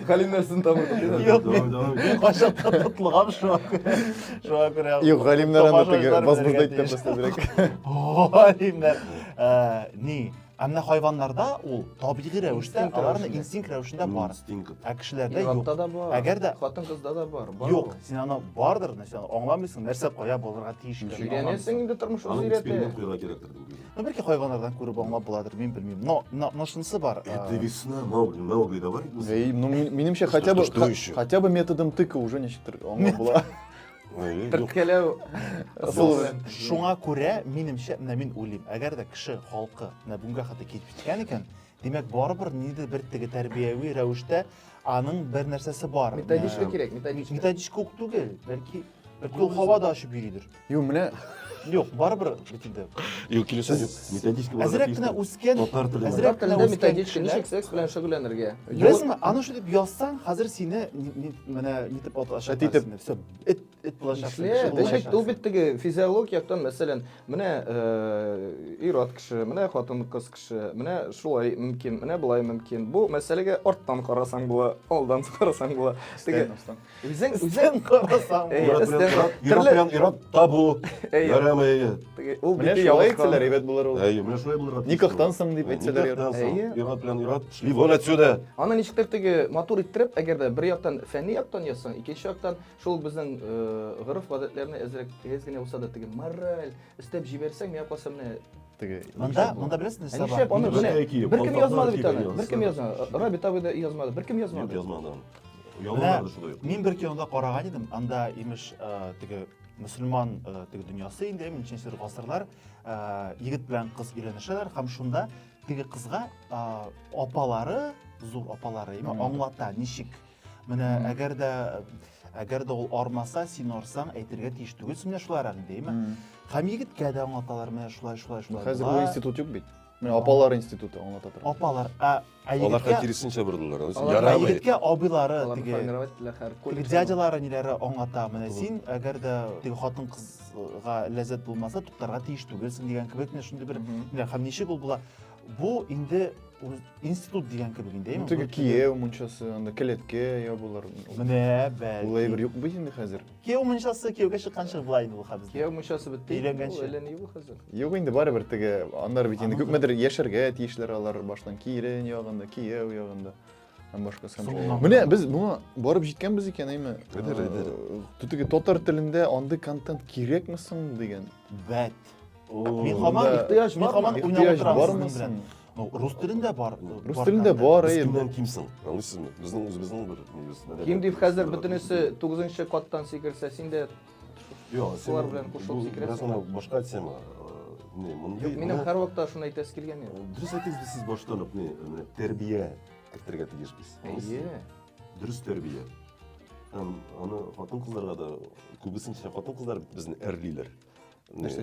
Галимнәр сынтамы. Юк, мин кайчан тотылган шуңа күрә. Шуңа күрә. Юк, галимнәр аны теге базбызда әйтте просто бирәк. Галимнәр. Ни, Ә менә хайваннарда ул табигый рәвештә, Инстинкт аларны рәвешендә. инстинкт рәвешендә М, бар. стинг. Ә кешеләрдә юк. Ир-атта да бар. Әгәр дә хатын кызда да бар. Бар юк, ул. син аны бардыр, нәрсә аны аңламыйсың, нәрсә кая булырга тиеш икәнен Ничек? аңламыйсың. Өйрәнәсең инде тормыш үзе Аның өйрәтә. эксперимент куярга кирәктер дип уйлыйм. Ну, бәлки хайваннардан күреп аңлап буладыр, мин белмим. Но, но, но шунысы бар. э, Это весна, Маугли, Маугли, давай. Әй, ну, мин- минемчә, хотя бы, что ха- еще? хотя бы методом тыка уже ничектер аңлап була. Төрткәләү ысулы. Шуңа күрә, минемчә, менә мин уйлыйм, әгәр дә кеше халкы менә бүгенгә хәтле килеп җиткән икән, димәк, барыбер ниндидер бер теге тәрбияви рәвештә аның бер нәрсәсе бар. Методичка кирәк, методичка. Методичка ук түгел, бәлки бәлки ул һавада очып йөридер. Юк, менә Юк, барыбер бит инде. Юк, килешәм юк. Методичка буларак Әзрәк кенә тиешле. үскән, Татар теле әзрәк барак. кенә Телдә үскән методичка кешеләр. ничек секс белән шөгыльләнергә? Беләсеңме, аны шул дип язсаң, хәзер сине ни- ни- менә нитеп Эт атачак. итеп. сине. Всё, эт эт булачаксың. Эшлә, кеше ул бит- булачаксың. ул бит теге физиолог яктан, мәсәлән, менә э, ир-ат кеше, менә хатын-кыз кеше, менә шулай мөмкин, менә болай мөмкин. Бу мәсьәләгә арттан карасаң була, алдан карасаң була. Теге Өстән, өстән. Үзең үзең карасаң. Ират ират табу. Ярам әйе. Ул бит шулай әйтсәләр әйбәт булыр ул. Әйе, менә шулай булыр. Никахтан соң дип әйтсәләр ярар. Ират белән ират, шли вон отсюда. Аны ничектер теге матур иттереп, әгәр дә бер яктан фәнни яктан язсаң, икенче яктан шул безнең гореф-гадәтләрне әзрәк тигез генә булса да теге мораль өстәп җибәрсәң, миңа калса менә теге монда монда беләсең нәрсә бар нишләп аны беркем язмады бит аны беркем язмады рабит абый да язмады беркем язмады язмады Яллар да шулай. Мин бер кинода караган идем, анда имеш э, теге мөселман э, теге дөньясы инде, ничәнче гасырлар э, егет белән кыз өйләнешәләр һәм шунда теге кызга апалары, зур апалары, имеш аңлата, ничек. Менә әгәр дә әгәр дә ул армаса, син арсаң, әйтергә тиеш түгел, менә шулар әле димме? Һәм егеткә дә аңлаталар, менә шулай, шулай, шулай. Хәзер бу институт юк бит. Менә апалар институты аңлата тора. Апалар, ә Ә Алар егеткә- хәл киресенчә бордылар. Алар Ә Ярамый. егеткә абыйлары Аларны теге формировать ителә хәр. теге коллектив. дядялары ниләре аңлата менә син әгәр дә теге хатын кызга ләззәт булмаса туктарга тиеш түгелсең дигән кебек менә шундый бер Мгм. ниләр. һәм ничек ул була бу инде үз- институт дигән кебек инде Ну, әйеме? теге Бу- кияү мунчасы, анда келәткә ябылыр. менә Ул әйбер бәлки юк бит инде хәзер. Кияү мунчасы кияүгә чыкканчы була инде ул хәбис. Кияү мунчасы бетте. Өйләнгәнче. Әллә ни бу хәзер. Юк инде барыбер теге аннар бит инде күпмедер яшәргә тиешләр алар баштан килен ягында, кияү ягында. Һәм башка сан. Менә без моңа барып җиткәнбез икән, әйме? Әйдер, әйдер. Теге татар телендә андый контент кирәкме соң дигән. Бәт. Мин хаман ихтыяҗ, мин хаман уйнап утырам. Ну, рус телендә бар. Рус телендә бар, әйе. Бездән кимсең. Аңлыйсызмы? Безнең үзебезнең бер нибез. Ким дип хәзер бөтенесе 9нчы каттан сикерсә, син дә Юк, шулар белән кушылып сикерәсең. Бераз башка тема. Не, мондый. Минем һәр вакытта шуны әйтәсе килгән иде. Дөрес әйтәсез, сез баштан ук не, менә тәрбия кертергә тиешбез. Әйе. Дөрес тәрбия. Һәм аны хатын-кызларга да күбесенчә хатын-кызлар безне әрлиләр.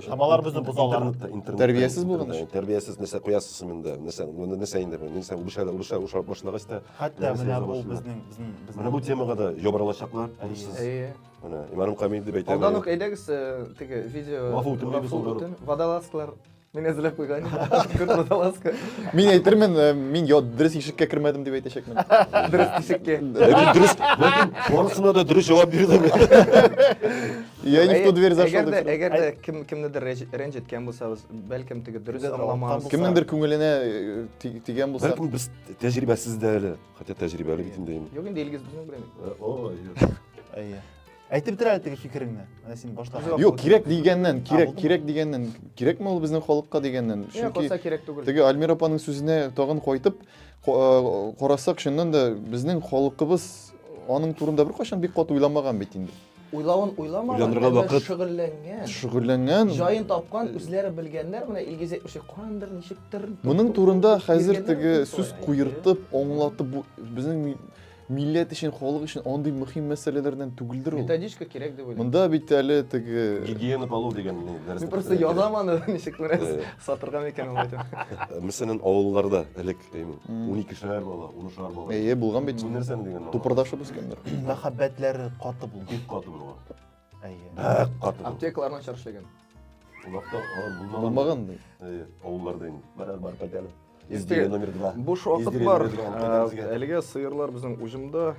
Шамалар безне бозалар. Тәрбиясез булган өчен. Тәрбиясез нәрсә куясыз инде. Нәрсә, моны нәрсә инде бу? Нәрсә урыша, урыша, урыша башлагач та. Хәтта менә бу безнең безнең безнең. Менә бу темага да ябырылачаклар. Урыссыз. Әйе. Менә Иманым Камил дип әйтәм. Алдан ук әйдәгез теге видео. Вафу үтен дип соңгы. Водолазлар Мин әзерләп куйган. Күрт водолазка. Мин әйтермен, мин я дөрес ишеккә кермәдем дип әйтәчәкмен. Дөрес ишеккә. Дөрес. Ләкин барысына да дөрес җавап бирдем. Я не в ту дверь зашел. Әгәр дә әгәр дә кем кемнедер рәнҗеткән булсабыз, бәлкем теге дөрес аңламас. Кемнеңдер күңеленә тигән булса. Бәлкем без тәҗрибәсез дә әле, хотя тәҗрибәле бит инде. Юк инде Илгиз безнең белән. О, әйе. Әйтеп бир әле теге фикереңне. Менә син башта. Юк, кирәк дигәннән, кирәк, кирәк дигәннән, кирәкме ул безнең халыкка дигәннән. Чөнки кирәк түгел. Теге Альмир апаның сүзенә тагын кайтып карасак, чыннан да безнең халыкыбыз аның турында беркайчан бик кат уйламаган бит инде. Уйлавын уйламаган, Уйланырга әмма вакыт- шөгыльләнгән. Шөгыльләнгән. Җаен тапкан, үзләре белгәннәр, менә Илгиз әйтмешли, кандыр, ничектер. Моның туп-туп-туп турында туп-туп хәзер йөргәннәр теге бит сүз болай. куертып, аңлатып, бу безнең ми- милләт өчен, халык өчен андый мөһим мәсьәләләрдән түгелдер ул. Методичка кирәк дип уйлыйм. Монда бит әле теге Гигиена полов дигән ни, дәрес Мин просто язам аны, ничек күрәсез, Э. сатырга микән ул әйтеп. Мәсәлән, авылларда элек Әйме? 12 шәһәр бала, 10 шәһәр бала. Әйе, булган бит. Бу нәрсә дигән? Тупырдашып үскәндер. Мәхәббәтләре каты булган. Бик каты булган. Әйе. Бәк каты булган. Аптекаларына чаршыгын. Улакта алар булмаган. Булмаган ди. Әйе, авылларда инде. Барар бар пәдәле. Изгере номер 2. Буш вакыт бар. Әлегә сыерлар безнең уҗымда,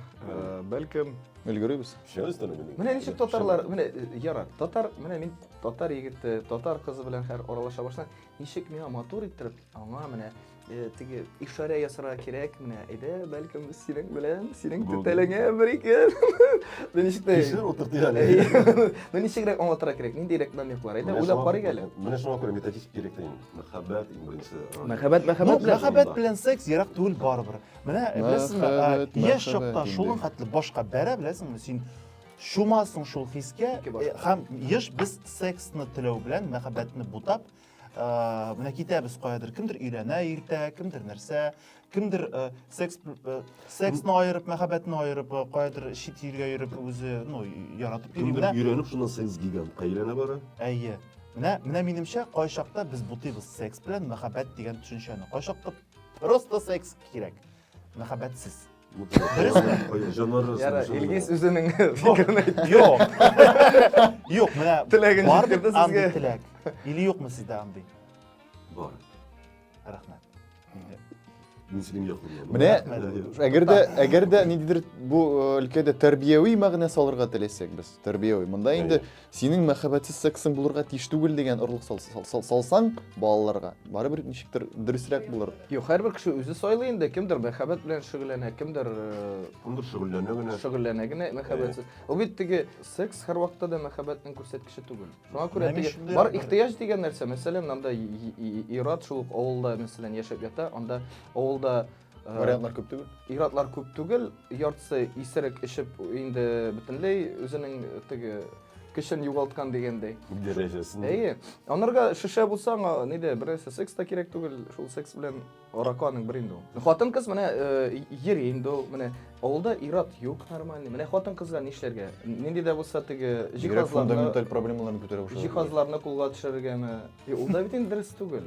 бәлкем Өлгеребез. Шәбез тәне менә. Менә ничек татарлар, менә яра, татар, менә мин татар егете, татар кызы белән хәр аралаша башласам, ничек миңа матур иттереп, аңа менә Э, теге ишарә ясарга кирәк менә әйдә бәлкем синең белән синең түтәлеңә бер ике мин ишетмәй ишер утыртыйк әле мин ничегрәк аңлатырга кирәк ниндәйрәк намеклар әйдә уйлап карыйк әле менә шуңа күрә методист кирәк та инде мәхәббәт иң беренче мәхәббәт мәхәббәт белән мәхәббәт белән секс ерак түгел барыбер менә беләсеңме яшь чакта шуның хәтле башка бәрә беләсеңме син шумасың шул хискә һәм еш без сексны теләү белән мәхәббәтне бутап Э, менә китәбез каядыр кемдер өйләнә иртә кемдер нәрсә кемдер э, секс э, сексны аерып мәхәббәтне аерып каядыр чит илгә йөреп үзе ну яратып йөри кемдер өйләнеп шуннан секс гигантка әйләнә бара әйе менә менә минемчә кайчакта без бутыйбыз секс белән мәхәббәт дигән төшенчәне кайчакта просто секс кирәк мәхәббәтсез Яра, Илгиз үзенең фикерен әйтте. Юк. Юк, менә теләген бар бит андый теләк. Или юкмы сездә андый? Бар. Рәхмәт. Мин синең якыныңа. Менә әгәр дә әгәр дә ниндидер бу өлкәдә тәрбияви мәгънә салырга теләсәк без, тәрбияви. Монда инде синең мәхәббәтсез сексың булырга тиеш түгел дигән орлык сал, сал, сал, салсаң балаларга барыбер ничектер дөресрәк булыр Юк, һәрбер кеше үзе сайлый инде, кемдер мәхәббәт белән шөгыльләнә, кемдер э, Кемдер шөгыльләнә генә. шөгыльләнә генә мәхәббәтсез. Ул бит теге секс һәрвакытта да мәхәббәтнең күрсәткече түгел. Шуңа күрә Менә теге шундый бар рәвешле. ихтыяҗ дигән нәрсә, мәсәлән, анда и- и- и- ир-ат шул ук авылда мәсәлән яшәп ята, анда авылда Вариантлар күп түгел. Иратлар күп түгел, яртысы исерек эчеп инде бөтенләй үзенең теге көчен югалткан дигәндәй. Дәрәҗәсен. Әйе. Анарга шешә булса, аңа нидә берәрсе секс та кирәк түгел, шул секс белән аракы аның бер инде ул. Хатын кыз менә э, йөри инде ул, менә авылда ират юк нормальный. Менә хатын кызга нишләргә? Нинди дә булса теге Бигрәк җиһазларны фундаменталь проблемаларны күтәрә башлады. җиһазларны кулга төшерергәме? Е, Ул да бит инде дөрес түгел.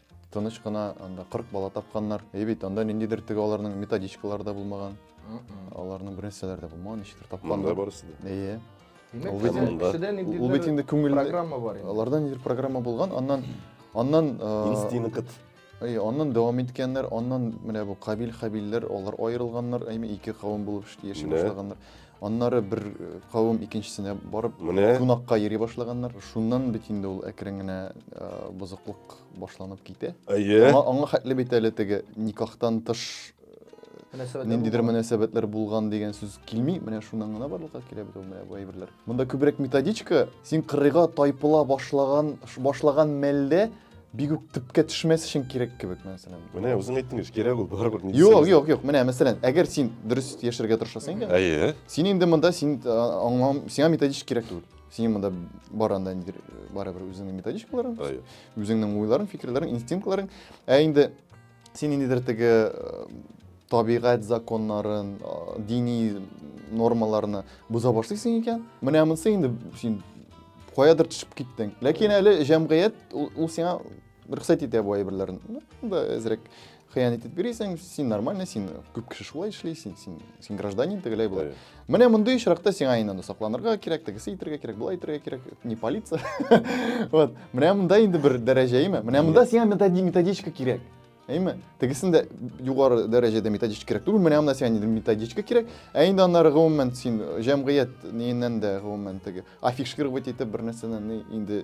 Тыныч кына анда 40 бала тапканнар. Әй бит, анда ниндидер теге аларның методичкалары да булмаган. Аларның бер нәрсәләре дә булмаган, ничектер Монда тапканнар. барысы да. Әйе. Димәк, Ул бит һәр инде- кешедә ниндидер ул бит инде күңелдә- программа бар инде. Аларда ниндидер программа булган, аннан аннан э, Инстинкт. Әй, аннан дәвам иткәннәр, аннан менә бу кабил хабилләр, алар аерылганнар, әйме ике кавым булып эш- яши Менә. башлаганнар. Аннары бер э, кавым икенчесенә барып Менә. кунакка йөри башлаганнар. Шуннан бит инде ул әкрен генә э, бозыклык башланып китә. Әйе. Аңа, аңа хәтле бит әле теге никахтан тыш э, ниндидер мөнәсәбәтләр булган дигән сүз килми. Менә шуннан гына барлыкка килә бит ул менә бу әйберләр. Монда күбрәк методичка, син кырыйга тайпыла башлаган башлаган мәлдә бик үк төпкә төшмәс өчен кирәк кебек мәсәлән менә үзең әйттең ич кирәк ул барыбер юк юк юк менә мәсәлән әгәр син дөрес яшәргә тырышасың икән әйе син инде монда син аңлам сиңа методичка кирәк түгел син монда бар анда барыбер үзеңнең методичкаларың әйе үзеңнең уйларың фикерләрең инстинктларың ә инде Син ниндидер теге табигать законнарын, дини нормаларны боза башлыйсың икән, менә монысы инде син каядыр төшеп киттең. Ләкин әле җәмгыять ул сиңа рөхсәт итә бу әйберләрне. Да әзрәк хыянәт итеп йөрисең, син нормальный, син күп кеше шулай эшли, син син син гражданин тегеләй болай. Менә мондый очракта сиңа инде сокланырга кирәк, тегесе итергә кирәк, болай итергә кирәк, не полиция. Вот. Менә монда инде бер дәрәҗә, әйме? Менә монда сиңа методичка кирәк. Әйме? Тегесен дә югары дәрәҗәдә методичка кирәк түгел. Менә монда сиңа инде методичка кирәк. Ә инде аннары гомумән син җәмгыять ниеннән дә гомумән теге афишировать итеп бер нәрсәне инде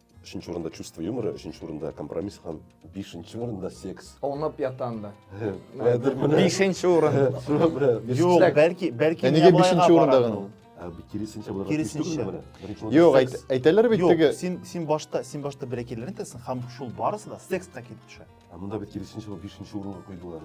Өченче урында чувство юмора, өченче урында компромисс һәм бишенче урында секс. Онып ятам да. Хәзер менә. Бишенче урын. Шуңа күрә без- Юк, Чак. бәлки, бәлки Ә нигә миябайга бишенче барады урында гына? ул. Ә, бу Киресенчә булырга тиеш Киресенчә. түгелме менә? Беренче урында Юк, секс. әйт- әйтәләр бит Юк, теге. син, син башта, син башта бер әкиләрен тәсен, һәм шул барысы да секска килеп төшә. Ә монда бит киресенчә ул бишенче урынга куйдылар.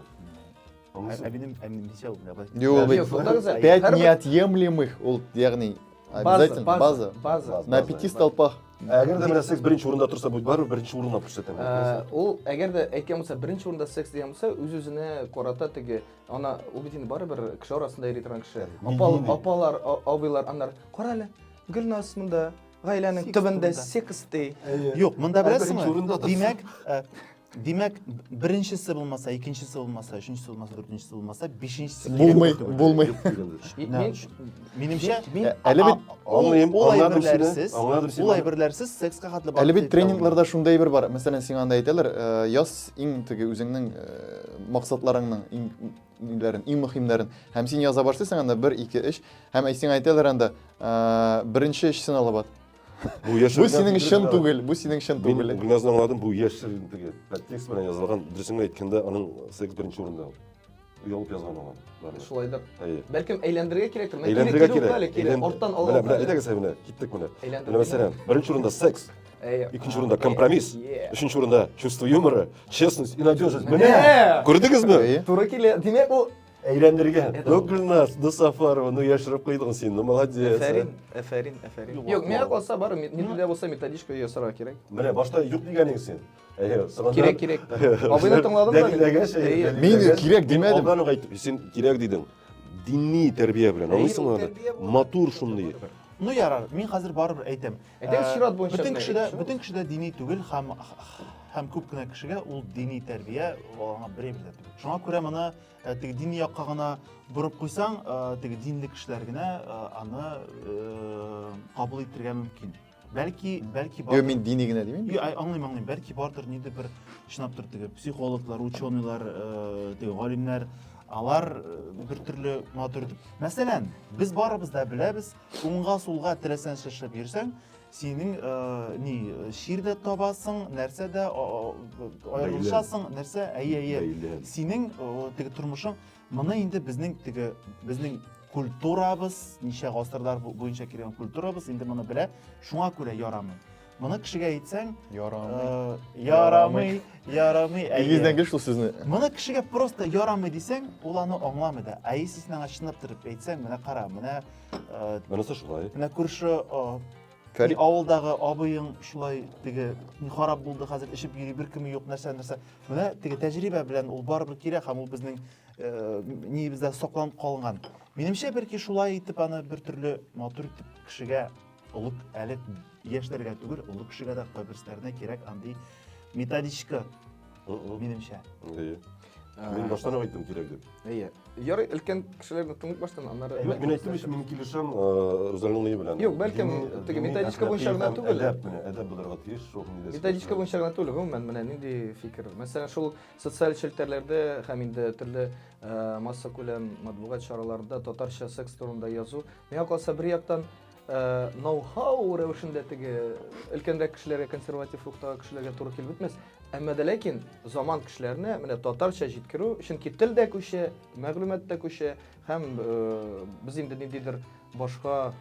әбинем әбинем дисә ул мына былай Юк, Юк, сонда гүзәл. пять Һәрбер- неотъемлемых ул ягъни обязательно база, база база. база. на пяти столпах Әгәр дә менә секс беренче урында торса, бу барыбер беренче урынга күрсәтәм. Ә, ул әгәр дә әйткән булса беренче урында секс дигән булса үз үзенә карата теге ана ул бит инде барыбер кеше арасында йөри торган кеше Мин- апал мин- апалар а- абыйлар аннар кара әле гөлназ монда гаиләнең Секс төбендә турында. секс ди Юк, монда Ә, беләсеңме? беренче урында да- Димәк, ә, Димәк, беренчесе булмаса, икенчесе булмаса, өченчесе булмаса, дүртенчесе булмаса, бишенчесе булмый, булмый. Минемчә, әле бит аңлыйм, аңладым сине. Аңладым сине. Ул әйберләрсез секска хәтле бар. Әле бит тренингларда шундай әйбер бар. Мәсәлән, сиңа анда әйтәләр, э, яз иң теге үзеңнең э, максатларыңның иң ниләрен, иң мөһимнәрен. Һәм син яза башлыйсың анда 1 2 3 һәм әйсең әйтәләр анда э, беренче эшсен алып ат. Бу яшерен. Бу синең чын түгел, бу синең чын түгел. Мин генә аңладым, бу яшерен түгел. Текст белән язылган, дөресен әйткәндә, аның секс беренче урында. Ялып язган аңа. Шулайдыр. Бәлкем әйләндерергә кирәктер. Әйләндерергә кирәк. Әле кирәк. Арттан алга. Менә, менә, әйдәгез менә, киттек менә. Менә мәсәлән, беренче урында секс. Икенче урында компромисс. Өченче урында чувство юмора, честность и надежность. Менә! Күрдегезме? Туры килә. Димәк, ул Әйләндергән. Ну, Гөлназ, ну, Сафарова, ну, яшереп куйдың син, ну, молодец. Әфәрин, әфәрин, әфәрин. Юк, миңа калса бар, мидилдә булса методичка ясарга кирәк. Менә башта юк дигәнең син. Кирәк, кирәк. Абыйны тыңладың да? Дәлиләгәч, мин кирәк димәдем. Алдан ук әйтеп, син кирәк дидең. Дини тәрбия белән, аңлыйсыңмы аны? Матур шундый. Ну ярар, мин хәзер барыбер әйтәм. Әйтәм, чират буенча. Бөтен кешедә, бөтен кешедә дини түгел һәм һәм күп кенә кешегә ул дини тәрбия аңа берәй бер дә түгел. Шуңа күрә моны Ә теге дини якка гына борып куйсаң, теге динле кешеләр генә аны кабул итергә мөмкин. Бәлки, бәлки бар. Юк, мин дини генә димим. Юк, аңлыйм, аңлыйм. Бәлки бардыр нинди бер чынлап тор теге психологлар, ученыйлар, теге галимнәр алар бер төрле матур итеп. Мәсәлән, без барыбыз да беләбез, уңга сулга теләсәнчә эшләп йөрсәң, Синең э, ни, чир дә табасың, нәрсә дә аерылышасың, нәрсә, әйе, әйе. Синең теге тормышың, моны инде безнең теге, безнең культурабыз, ничә гасырлар буенча килгән культурабыз инде моны белә, шуңа күрә ярамый. Моны кешегә әйтсәң, ярамый, э, ярамый, ярамый. Игездән кеш шул сүзне. Моны кешегә просто ярамый дисәң, ул аны аңламый да. Ә если син аңа чынлап торып әйтсәң, менә кара, менә Ә, Монысы шулай. Менә күрше Фәрит авылдагы абыең шулай теге ни харап булды хәзер эчеп йөри беркеме юк нәрсә нәрсә. Менә теге тәҗрибә белән ул барыбер кирәк һәм ул безнең э, ниебездә сакланып калган. Минемчә бәлки шулай итеп аны бер төрле матур итеп кешегә Олы әле яшьләргә түгел, олы кешегә дә кайберсенә кирәк андый методичка, минемчә. Әйе. Ә, мин баштан ук айттым кирәк дип. Әйе. Ярый, өлкән кешеләрне тыңлап баштан, аннары Юк, мин әйттем өчен мин килешәм Рузалиның белән. Юк, бәлкем теге методичка буенча гына түгел. Әдәп менә, әдәп булырга тиеш, шул нидә. Методичка буенча гына түгел, гомумән менә нинди фикер. Мәсәлән, шул социаль челтәрләрдә һәм инде төрле масса күләм матбугат чараларында татарча секс турында язу. Миңа калса бер яктан Э, ноу-хау рәвешендә теге өлкәнрәк кешеләргә консерватив рухтагы кешеләргә туры килеп бетмәс әмма дә ләкин заман кешеләренә менә татарча җиткерү чөнки тел дә күчә мәгълүмат та күчә һәм э, без инде ниндидер башка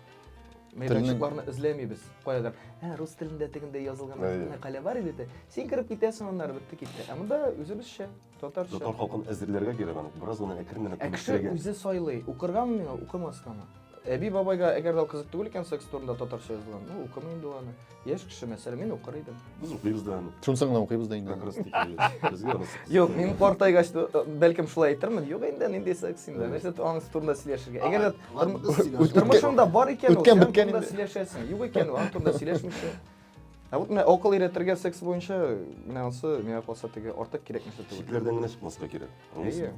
мәйданчыкларны эзләмибез каядыр ә рус телендә тегендә язылган мәкалә бар иде син кереп китәсең аннары бетте китте ә монда үзебезчә Татарча. Татар халкын әзерләргә кирәк аны. Бераз гына әкрен генә Ә кеше күнектерергә. үзе сайлый, укыргамы миңа, укымаскамы? Әби бабайга әгәр дә ул кызык түгел икән секс турында татарча язылган, ну укымый инде ул аны. Яшь кеше мәсәлән, мин укыр идем. Без укыйбыз да аны. Шунысы гына укыйбыз да инде. Как раз таки, безгә аны сык- Юк, мин картайгач та, э, бәлкем шулай әйтермен. Юк инде, нинди секс инде. Нәрсә аның турында сөйләшергә. Әгәр дә Ладно, тор- без сөйләшик. тормышыңда бар икән ул, Үткән син аның биткән турында инде. сөйләшәсең. Юк икән ул, аның турында сөйләшмичә. Ә вот менә акыл өйрәтергә секс буенча менә ансы миңа калса теге артык кирәк нәрсә түгел. Чикләрдән генә чыкмаска кирәк. Әйе.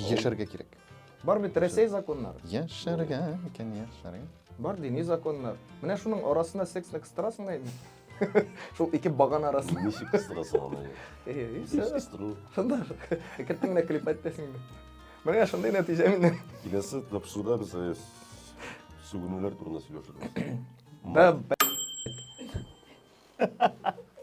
Яшәргә кирәк. Бар бит Россия законнары. Яшәргә икән, яшәргә. Бар дини законнар. Менә шуның арасында сексны кыстырасың да инде. Шул ике баган арасында. Ничек кыстырасың аны? Әйе, и все. Кыстыру. Шунда кеттең генә клип әйттең. Менә шундый нәтиҗә менә. Киләсе тапшыруда без Сүгенүләр турында сөйләшербез.